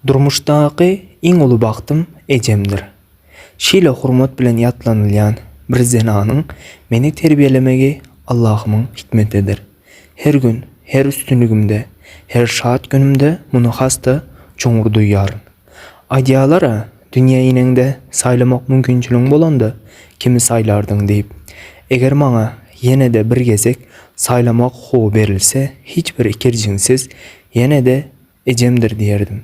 Durmuşdaky iň uly bagtym ejemdir. Şeýle hormat bilen ýatlanylýan bir zenanyň meni terbiýelemegi Allahymyň hikmetidir. Her gün, her üstünligimde, her şat günümde muny has-da çuňňur duýýaryn. Aýdýalar-a, dünýä ineňde saýlamak mümkinçiligiň bolanda, kimi saýlardyň diýip. Eger maňa ýene-de bir gezek saýlamak hukugy berilse, hiç bir ikirjiňsiz Ýene-de ejemdir diýerdim.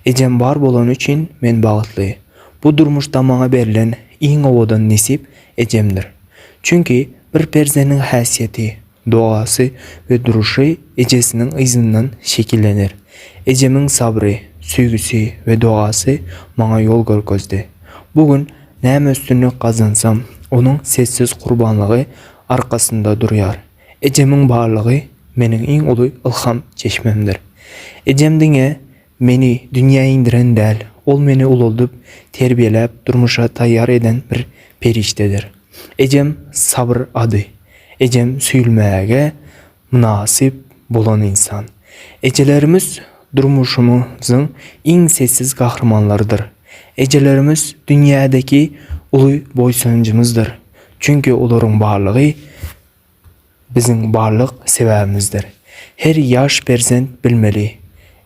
Ejem bar bolany üçin men bagtly. Bu durmuşda maňa berlen iň owadan nesip ejemdir. Çünki bir perzendiň häsiýeti, dogasy we duruşy ejesiniň yzyndan şekillener. Ejemiň sabry, söýgüsi we dogasy maňa ýol görkezdi. Bu gün näme üstünlik gazansam, onuň sessiz gurbanlygy arkasynda durýar. Ejemiň barlygy meniň iň uly ylham çeşmemdir. Ejem diňe meni dünýä indiren däl, ol meni ulaldyp, terbiýeläp, durmuşa taýýar eden bir perişdedir. Ejem Sabyr ady. Ejem söýülmäge mynasyp bolan ynsan. Ejelerimiz durmuşymyzyň iň sessiz gahrymanlarydyr. Ejelerimiz dünýädäki uly boýsanjymyzdyr. Çünki olaryň barlygy biziň barlyk sebäbimizdir. Her ýaş perzent bilmeli,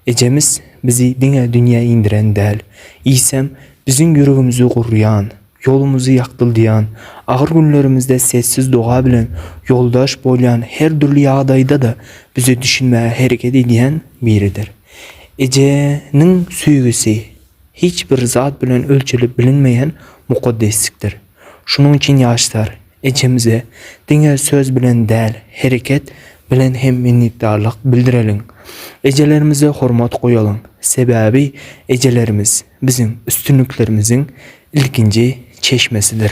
ejemiz bizi diňe dünýä indiren däl, eýsem, biziň ýüregimizi gurýan, ýolumyzy ýagtyldýan, agyr günlerimizde sessiz doga bilen ýoldaş bolýan, her dürli ýagdaýda-da bize düşünmäge hereket edýän biridir. Ejeniň söýgüsi hiç bir zat bilen ölçelip bilinmeýän mukaddeslikdir. Şonuň üçin ýaşlar, ejemize diňe söz bilen däl, hereket bilen hem minnetdarlyk bildireliň. Ejelerimize hormat goýalyň, sebäbi ejelerimiz biziň üstünliklerimiziň ilkinji çeşmesidir.